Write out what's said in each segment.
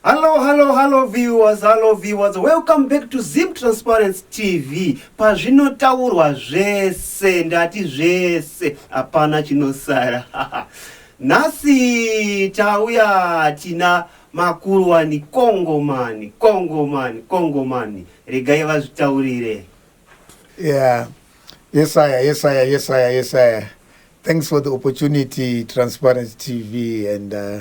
Hallo hallo hallo viewers hallo viewers welcome back to Zim Transparency TV pazvinotaurwa zvese ndati zvese hapana chinosara nhasi tauya tina makuruwani kongomani kongomani kongomani regai vazvitaurire yeah yesaya yesaya yesaya yesaya thanks for the opportunity Transparency TV and uh,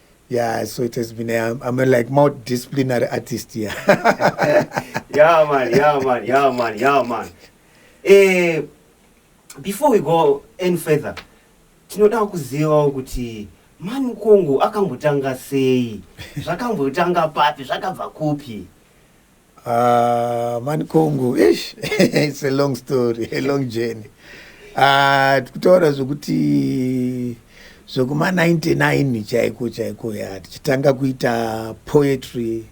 Yeah, so it has been. A, um, I'm a like multidisciplinary artist here. Yeah. yeah, man. Yeah, man. Yeah, man. Yeah, man. Eh, before we go any further, tinoda kuzivawo kuti mani kongo akambotanga sei zvakambotanga papi zvakabva kupi Uh, mani kongo ish it's a long story a long journey uh, tikutaura zvekuti zvekuma 99 chaiko chaiko ya tichitanga kuita poetry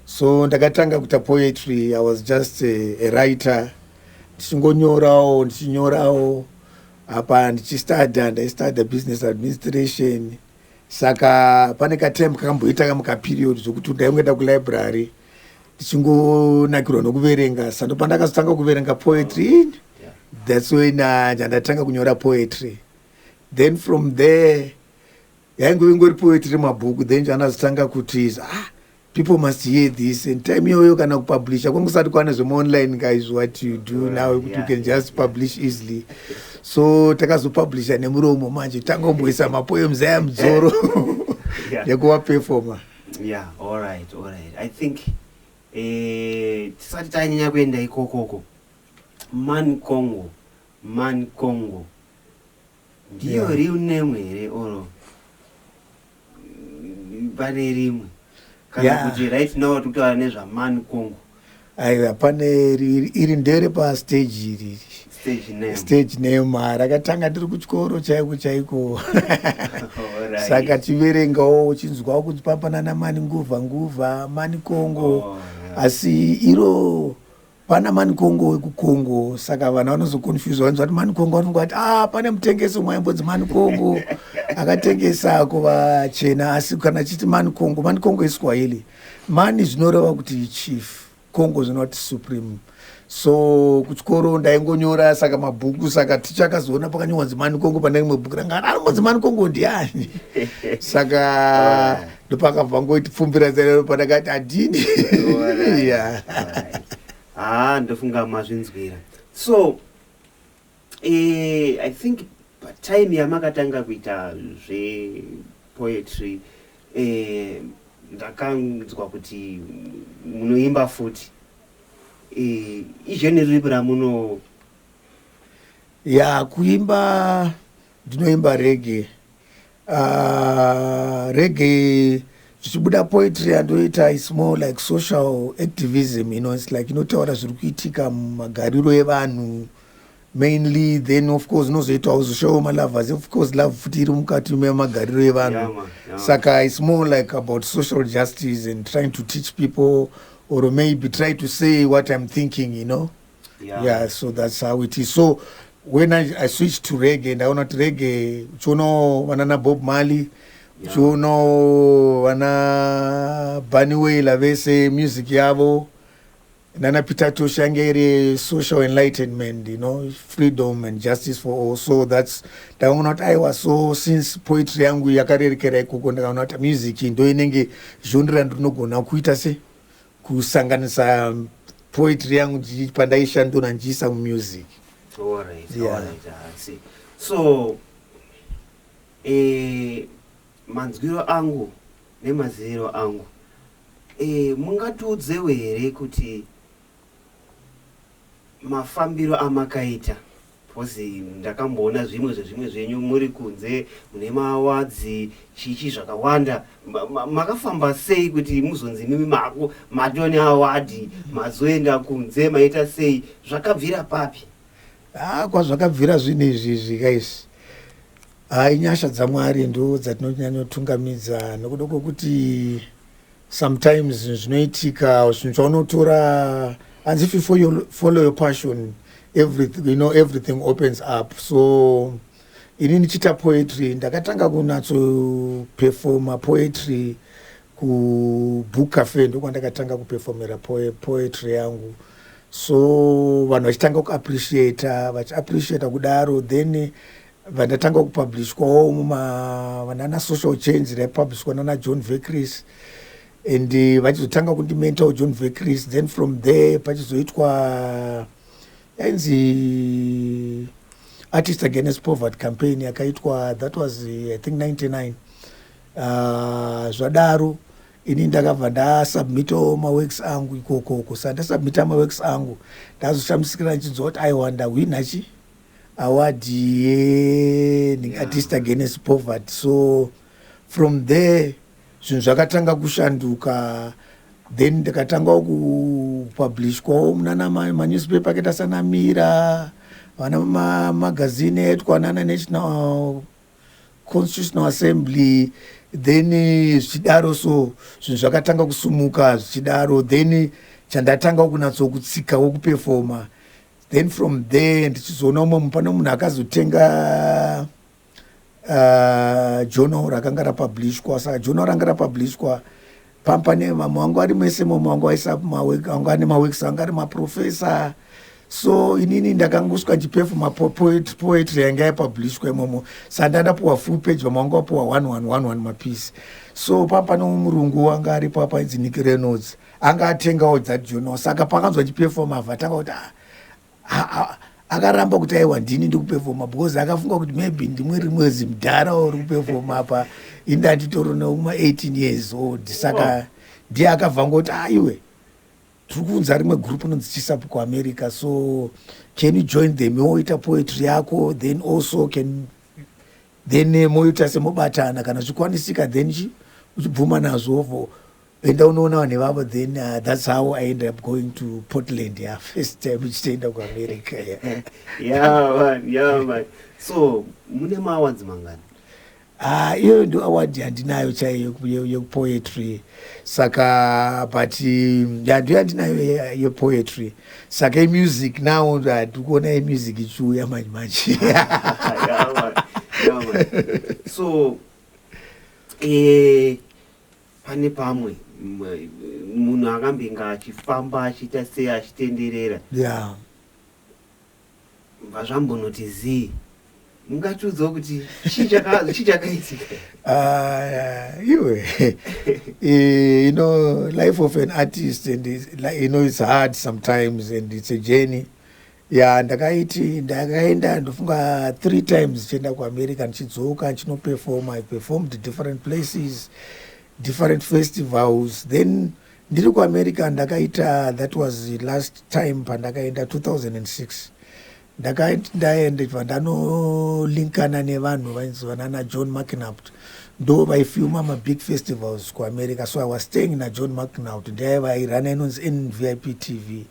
so ndakatanga kuita poetry i was just a, a writer ndichingonyorawo ndichinyorawo apa ndichistadha ndaistadha business administration uh, saka pane katime kakamboita kamwe kaperiod zvekuti kudai ungaenda kulibrary ndichingonakirwa nokuverenga sando pandakazotanga kuverenga poetry oh, yeah. thats when uh, ndandatanga kunyora poetry then from there yaingove ngori poetry mabhuku then chandazotanga kutiza ah, People must hear this and time iyoyo kana kupublisha kwanga kusati kwane zvemaonline guys what you do well, now yeah, you can just yeah. publish easily so takazopublisha nemuromo manje tangomboisa mapoems aya mudzoro yeah. nekuva performer yeah all right all right i think eh tisati tanyanya kuenda ikokoko man congo man congo Ndiyo yeah. real name here or pane rimwe kana yeah. kuti right now tikutaura nezvaman congo aiwa pane iri ndere pastage iri stage name rakatanga tiri kuchikoro chaiko chaiko saka tiverengawo uchinzwawo kuti papanana mani nguva nguva mani congo oh, asi iro Pana Manikongo wekuKongo saka vanhu vanozoconfuse vanzi vati Manikongo vanonga vati ah pane mutengesi umwe aimbonzi Manikongo akatengesa kuvachena asi kana chiti Manikongo Manikongo iSwahili mani zvinoreva kuti chief Kongo zvinoreva kuti supreme so kuchikoro ndaingonyora saka mabhuku saka ticha akazoona pakanyorwa zimani kongo pane rimwe bhuku ranga anomo zimani kongo ndiani saka ndopakabva ngoiti pfumbira zero pandakati adini haa ah, ndofunga mazvinzwira so eh, i think patime yamakatanga kuita zvepoetry eh, ndakanzwa kuti munoimba futi eh, izveni ripi ramuno ya kuimba ndinoimba rege Uh, reggae zvichibuda poetry yandoita is more like social activism you know, it's like inotaura zviri kuitika mumagariro evanhu mainly then of course unozoitawo zoshowo malovers of course love futi iri mukati memagariro evanhu yeah, yeah. saka it's more like about social justice and trying to teach people or maybe try to say what i'm thinking you know yeah. yeah so that's how it is so when i, I switch to rege ndaona kuti rege uchiona vana nabob mali uchiona yeah. vana baniwela vese music yavo nana peter tosh yange iri social enlightenment you know freedom and justice for all so thats ndakaona kuti aiwa so since poetry yangu yakarerekera ikoko ndakaona kuti music ndo inenge zhondira ndinogona kuita se kusanganisa poetry yangu ndichi- pandaishandura ndichiisa mumusic Alright, Yeah. alright, I see. so eh, manzwiro angu nemaziviro angu eh, mungatiudzewo here kuti mafambiro amakaita Coz ndakamboona zvimwe zvezvimwe zvenyu muri kunze mune ma awards chichi zvakawanda makafamba sei kuti muzonzi mimi mako matone award mazoenda kunze maita sei zvakabvira papi ah kwazvakabvira zvinhu izvi izvi guys ah inyasha dzamwari ndo dzatinonyanyotungamidza nokuda kwokuti Sometimes zvinoitika zvinhu chaunotora hanzi if you follow your passion everything, you know, everything opens up so ini ndichiita poetry ndakatanga kunatsopefoma poetry kubook cafe ndokwandakatanga kupefomera poetry yangu so vanhu vachitanga kuappreciata vachiappreciata kudaro then vandatanga kupublishwawo vanana social change raipublishwa nana john vecris and eh, vachizotanga kundimentawo john vecris then from there pachizoitwa yainzi artist against poverty campaign yakaitwa that was eh, i think 99 ah, zvadaro uh, ini ndakabva ndasubmitawo maworks angu ikokoko saka ndasubmita maworks angu ndazoshamisikira ndichinzwa kuti aiwa ndahwinachi award ye yeah. artist against poverty so from there zvinhu zvakatanga kushanduka then ndikatangawo kupublishwawo munana manewspaper akaita sana mira vana mamagazini aitwa nana national constitutional assembly then eh, zvichidaro so zvinhu zvakatanga kusumuka zvichidaro then chandatanga kunatsokutsikawo kupefoma then from there ndichizoona umwe mupana munhu akazotenga uh, journal rakanga rapublishwa saka journal ranga rapublishwa pampa nemama wangu ari mese mama wangu aisanga ane maweeks anga ari maprofessor so inini ndakangosvika ndichipefuma poetry yanga yapublishwa imomo sa ndandapuwa full page vamwe wanga wapuwa one one one one mapiece so papa nomurungu wanga aripo apa idzi nick reynolds anga atengawo dzajono saka pakanzwa chipefoma vatanga kuti ah, akaramba kuti aiwa ndini ndikupefoma because akafunga kuti maybe ndimwe rimwe zimdhara uri kupefoma apa indi anditori neuma 18 years old saka ndiye akabva ngoti aiwe ah, tiri kuunza rimwe group inonzi chisapu kuamerica so can you join them woita poetry yako then also can then eh, moita semobatana kana zvikwanisika then uchibvuma nazvo for Enda unoona vanhu vavo then uh, that's how I ended up going to Portland yeah, first time uchitenda kuAmerica yeah. yeah, man, yeah, man. So mune maawards mangani? Ah, iyoyo ndo award yandinayo chaiyo yekupoetry saka but um, yando yandinayo yepoetry saka imusic now ndikuona imusic ichiuya manje manje so eh, Pane pamwe munhu akambinga achifamba achiita sei achitenderera. Yeah. Vazvambonoti zii. Mungatiudzawo kuti chii chakaitika? Ah, iwe. Eh, you know, life of an artist and you know it's hard sometimes and it's a journey. ya ndakaiti ndakaenda ndofunga three times chienda kuamerica ndichidzoka ndchinoperforma i performed different places different festivals then ndiri kuamerica ndakaita that was last time pandakaenda 2006 ndakaiti ndaende chibva ndanolinkana nevanhu vainzi vanana john mcnapt ndo vaifilma mabig festivals kuamerica so i was staying najohn mcnapt ndiaiva airana inonzi nvip tv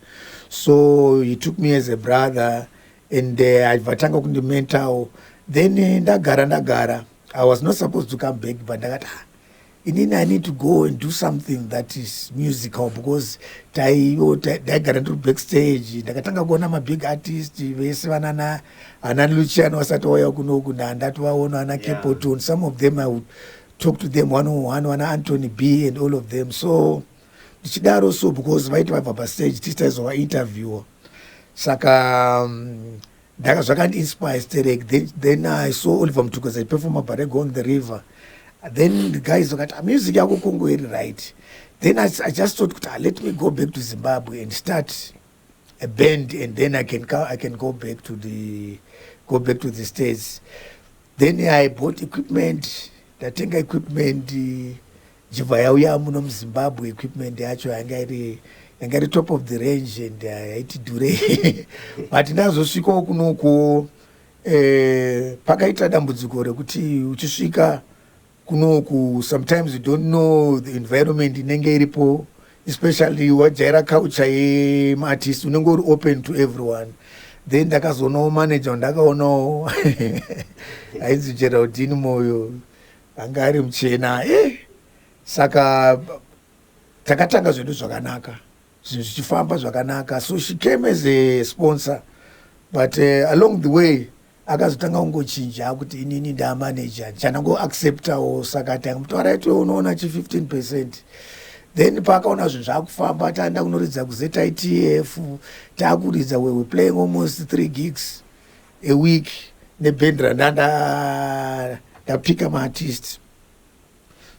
so he took me as a brother and uh, aibva uh, tanga kundimentawo then eh, ndagara ndagara i was not supposed to come back but ndakati ah, inini i need to go and do something that is musical because taiwo ndaigara ndiri backstage ndakatanga kuona mabig artist vese vanana ana lucian wasati wauya kunoku ndandatovaona ana capotone yeah. some of them i would talk to them one on one ana antony b and all of them so ndichidaro so because vaiti vabva pastage tisi taizova interviewer saka um, ndaka zvakandiinspire sterek then, then i saw oliver mtukweza iperforma barego on the river then the guys vakati ah, music yako kongo iri right then I, i just thought kuti ah, let me go back to zimbabwe and start a band and then i can, I can go back to the go back to the states then i bought equipment ndatenga equipment uh, Jibva yauya muno muzimbabwe equipment yacho yanga iri yanga iri top of the range and uh, yaiti dure but ndazosvikawo kunokuwo eh, pakaita dambudziko rekuti uchisvika kunoku sometimes you don't know the environment inenge iripo especially wajaira culture yemaartist unenge uri open to everyone then ndakazoonawo manager wandakaonawo ainzi geraldin moyo Anga ari muchena eh saka takatanga zvedu zvakanaka zvinhu zvichifamba zvakanaka so she came as a sponsor but uh, along the way akazotanga kungochinja kuti inini ndaamanager ndichana kuacceptawo saka tangamutaura iti unoona chi 15 percent then paakaona zvinhu zvaakufamba taenda kunoridza kuzitf taakuridza wewe playing almost three gigs a week neband randanda ndapika maartist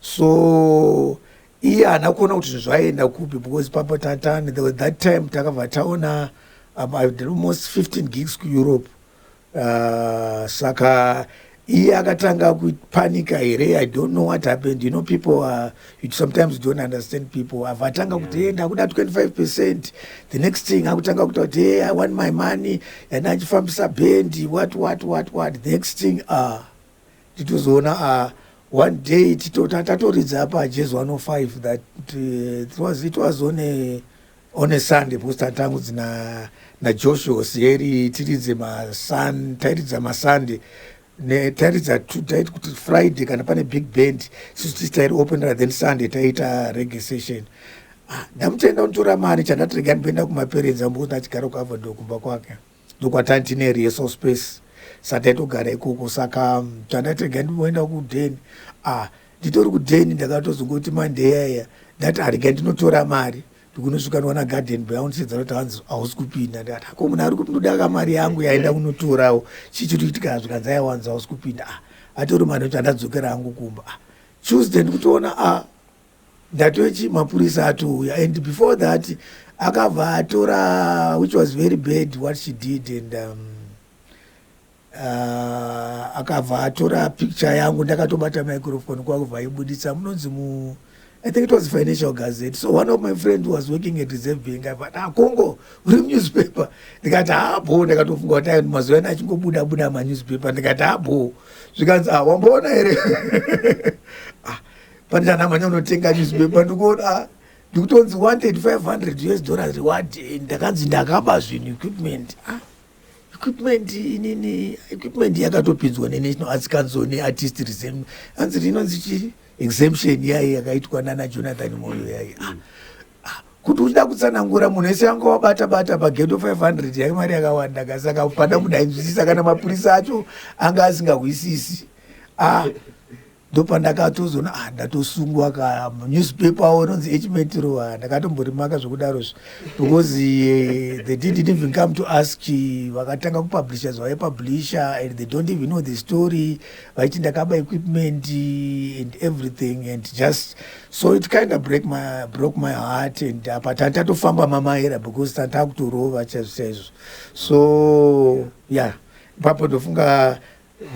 so iye haana kuona kuti zvinhu zvaienda kupi because papa tatani that time takabva taona um, almost 15 gigs kueurope uh, saka iye akatanga kupanika here i don't know what happened you know people are, you sometimes don't understand people ava atanga yeah. kuti hey, ndakuda 25 percent the next thing akutanga kuta kuti hey, i want my money yanda achifambisa bendi what what what what the next thing uh, titozoona uh, one day tatoridza apa jes 105 that uh, it was, it was on a, one sunday because tanga tangu dzina najoshua osieri tiridze masun tairidza masunday tairidza taiti kuti friday kana pane big band sisu tisi tairi openera then sunday taiita rege session ah, ndamutenda kunitora mari chandatirega ndiboenda kumaperenzi ambokuti achigara kuavador kumba kwake ndokwatanga tine rehearsal space sataitogara ikoko saka mm, tandati rega ndimboenda kuden ah nditori kuden ndakatozongoti mandeyaya ndati arega ah, ndinotora mari ndikunosvika ndiwana garden boy aundisedza kuti hanzi hausi kupinda ndikati ako ah, munhu ari kuti ndodaka mari yangu yaenda kunotorawo chii chiri kuitika zvikanzi aiwanzi hausi kupinda ah atori mari kuti andadzokera hangu kumba ah tuesday ndikutoona ah Ndatochi mapurisa atouya and before that akabva atora which was very bad what she did and um, uh, akabva atora picture yangu ndakatobata microphone kwakubva aibuditsa munonzi mu I think it was Financial Gazette. So one of my friends was working at Reserve Bank. I thought, ah, Congo, uri newspaper. Ndikati hapo, ah, ndakatofunga kuti mazuva ana achingobuda buda manewspaper. Ndikati hapo, ah, zvikanzi ah, wamboona here? ah, Pandana manya unotenga newspaper ndikuona ah, ndikutonzi wanted 500 us dollars reward eh, ndakanzi ndakaba zvinhu equipment ah, equipment inini equipment yakatopinzwa nenational arts council neartist resem anzi rinonzi chi exemption yaye yakaitwa nana jonathan moyo yaye ah, ah, kuti uchida kutsanangura munhu ese yanga wabata bata pagedo 500 yake mari yakawanda kasaka pada kudainzwisisa kana mapurisa acho anga asingahwisisi ah, ndopandakatozoona ah ndatosungwa ka newspaper awo anonzi echimetro ah, ndakatomborimaka zvekudaro zvi because uh, they didn't even come to ask vakatanga kupublisha zvavaipublisha and they don't even know the story vaiti ndakaba equipment and everything and just so it kind of break my, broke my heart and apa tani tatofamba mamaera because tani takutorova chaizvo chaizvo so yeah ipapo ndofunga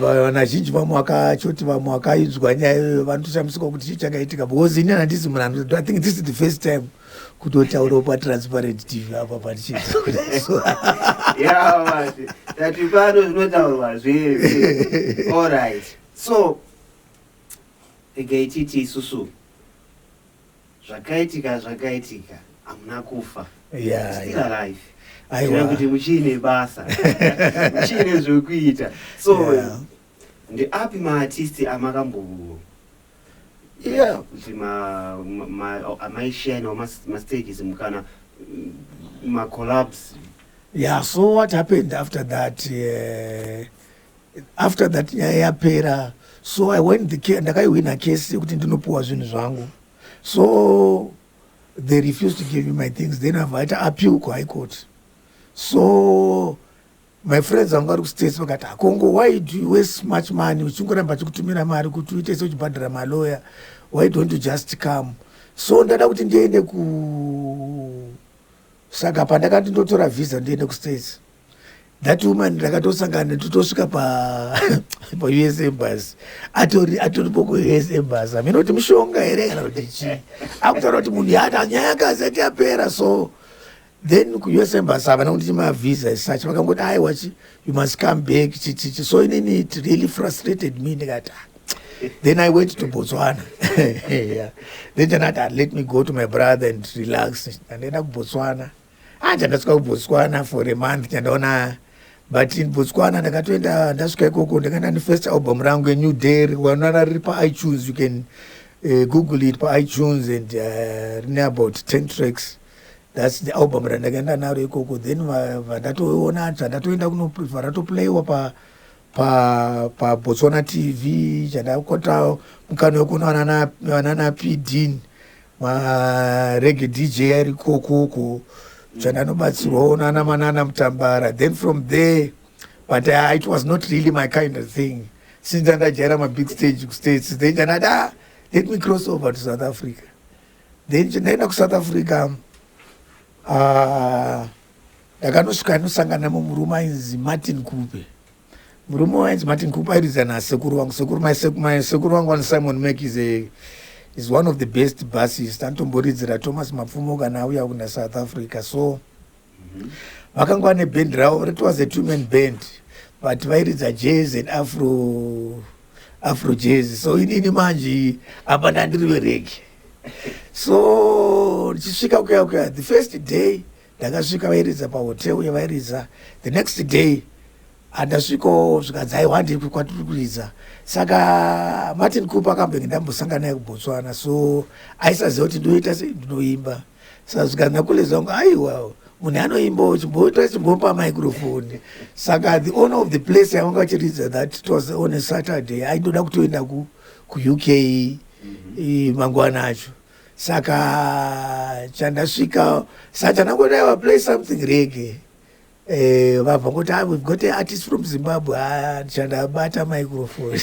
vanazhinji vamwe vakachoti vamwe vakainzwa nyaya iyoyo vanotoshamisika kuti chii chakaitika because ini handisi munhu anoto i think this is the first time kutotaurawo patransparent tv apa patichizoati pano zvinotaurwa zvese allright so regai titi isusu Zvakaitika zvakaitika hamuna kufa. Yeah, Still yeah. alive. Aiwa. Kureva kuti muchiine basa. muchiine zvekuita. So Yeah. ndeapi maartisti amakambo Yeah. kuti ma, ma, ma, amaishine or mas- mastages mukana mm, macollabs Yeah, so what happened after that? Uh, after that nyaya yapera so i went the case ndakaihwina case yekuti ndinopiwa zvinhu zvangu so they refused to give me my things then avaita appeal kuhigh court so my friends vanga vari kustates vakati akongo why do you waste much money uchingoramba chikutumira mari kuti uite se uchibhadhara maloya why don't you just come so ndada kuti ndiende ku saka pandakati ndotora visa ndiende kustates that woman ndakatosangana netu tosvika paus embas atori atoripo kuus embas amene kuti mushonga here kana kuti chii akutaura kuti munhu yaata nyaya yakazi ati yapera so then kuus embas havana kunditi mavisa esuch vakangoti aiwa chi you must come back chichichi so inini it really frustrated me ndikati ah, then i went to botswana yeah. then chanati ah, let me go to my brother and relax andienda kubotswana Ah, chandasvika kubotswana for a month chandaona but in botswana ndakatoenda ndasvika ikoko ndakaenda nefirst album rangu enew day wanara riri paitunes you can uh, google it paitunes and uh, rine about 10 tracks thats the album randakaenda naro ikoko then vandatoona zvandatoenda kunovaratoplayiwa pa pa pa Botswana TV chadakota mukana wekuona vanana vanana Pidin ma reggae DJ ari kokoko chandanobatsirwawo nana manana Mutambara then from there but uh, it was not really my kind of thing since andajaira ma big stage ku states then chanada ah, let me cross over to South Africa then chandaenda ku South Africa uh, Ndakanosvika anosangana nemumwe murume ainzi Martin Kupe. Murume uyu ainzi Martin Kupe airidza nasekuru vangu. Sekuru mai sekuru mai sekuru vangu vanzi Simon Mac is a is one of the best bassist. Anotomboridzira Thomas Mapfumo kana auya kuna South Africa. So mhm. vakanga vane band ravo it was a two man band but vairidza jazz and afro afro jazz. So inini manje apa ndandiri verege. so ndichisvika kuya kuya the first day ndakasvika vairidza pahotel uye vairidza the next day handasviko zvikadzai wandei kwatiri kuridza saka martin cooper akambenge ndambosangana naye kubotswana so aisaziva kuti ndoita sei ndinoimba saka zvikanzi nakulezi vangu aiwa munhu anoimbawo chimboita chimbopa microfoni saka the owner of the place yavanga vachiridza that it was on a saturday aindoda kutoenda kuuk mm-hmm. mangwana acho saka chandasvika satana kuti aiwa play something rege eh, vabva kuti ah, we've got artist from zimbabwe ah, chandabata microphone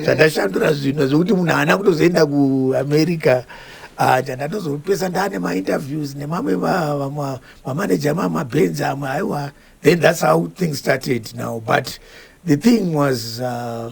chandashandura zvinhu zvekuti munhu haana kutozoenda kuamerica ah, chandatozopesa ndane mainterviews nemamwe vamanaja mamabhenzi amwe aiwa then that's how things started now but the thing was uh,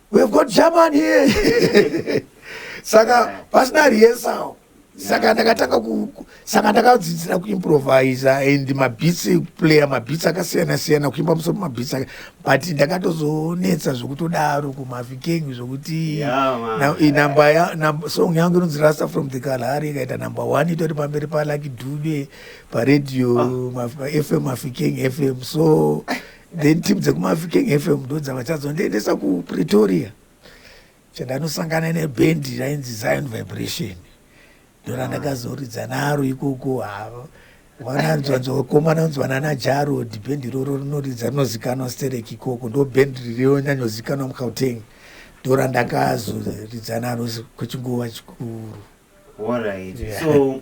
we've got german here saka pasina rehearsal saka ndakatanga saka ndakadzidzira kuimprovisa and mabits ekuplaya mabits akasiyana siyana kuimba musoro mabits ake but ndakatozonetsa zvekutodaro kumavikengi zvokuti song yangu inonzi rasta from the kalhari ikaita number one itori pamberi palaki dube paradio ah. fm mavikengi fm so then team dzekumaviking fm ndo dzava chadzondiendesa kupretoria chandanosangana nebhendi rainzi zion vibration ndorandakazoridza naro ikoko havo vananzwanzwakomananzwana najarod bhendi iroro rinoridza rinozikanwa sterek ikoko ndo bhendi ririonyanyozikanwa mukauteng ndorandakazoridza naro kwechinguva chikuru Alright. Yeah. So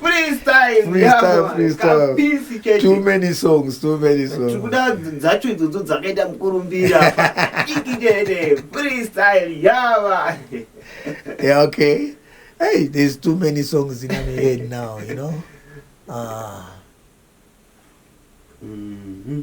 Freestyle, Freestyle, yako, freestyle. kapisi chete. too many songs too many songs tikuda dzacho idzodzo dzakaita mukurumbira ikidede freestyle yava yeah okay hey there's too many songs in my head now you know ah Mhm.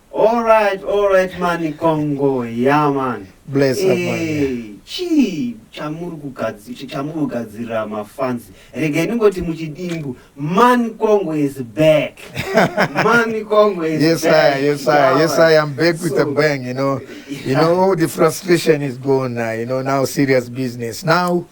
All right, all right mani Congo, yeah man. Bless up, man. Eh, chii chamuri kugadzi- ch- chamuri kugadzirira mafans regai ndingoti muchidimbu mani Congo is back mani Congo is Yes, back. I, yes, I, Yeah, yes, man. I am back with a So- bang. You know, you know, all the frustration is gone now. You know, now serious business. Now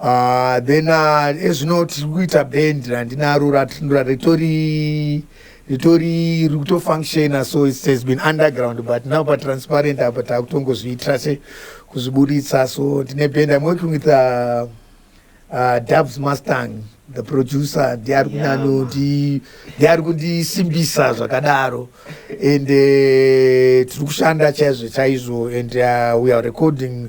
Uh, then uh, ezvino tiri kuita band randinaro ritori ritori rikutofunctiona so it has been underground but now patransparent apa takutongozviitira se kuzviburitsa so ndine band i'm working with uh, uh, dubs mustang the producer ndi ari kunano ndi ari kundisimbisa zvakadaro and uh, tiri kushanda chaizvo chaizvo and uh, we are recording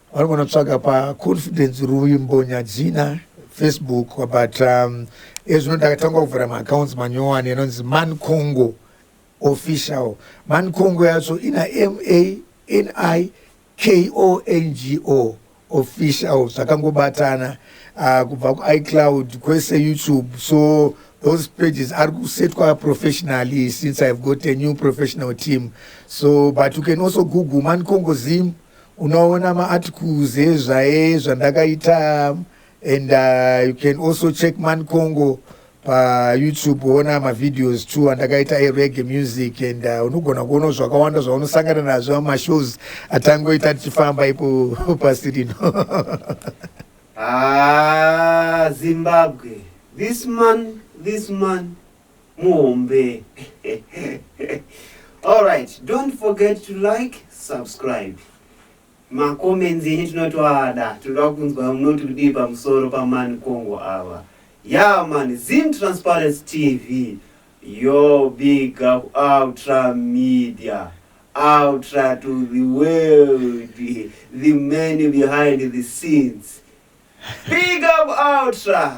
Vanogona tsvaga pa confidence ruvimbo nyadzina facebook but um, ezvino ndakatanga kuvhura maaccounts manyowani anonzi man congo official man congo yacho ina mani kongo official zvakangobatana uh, kubva kuicloud kwese youtube so those pages are kusetwa professionally since i've got a new professional team so but you can also google man congo zim Unoona ma articles ezvaye zvandakaita and uh, you can also check man congo pa youtube woona ma videos too andakaita e reggae music and uh, unogona kuona zvakawanda zvaunosangana nazvo ama shows atangoita tichifamba ipo pasi rino ah zimbabwe this man this man muhombe alright don't forget to like subscribe macomments enyu tinotoada tinoda kunzwa munoti kudii pamusoro pamani congo ava ya mani zim transparency tv yo big up ultra media ultra to the world the man behind the scenes big up ultra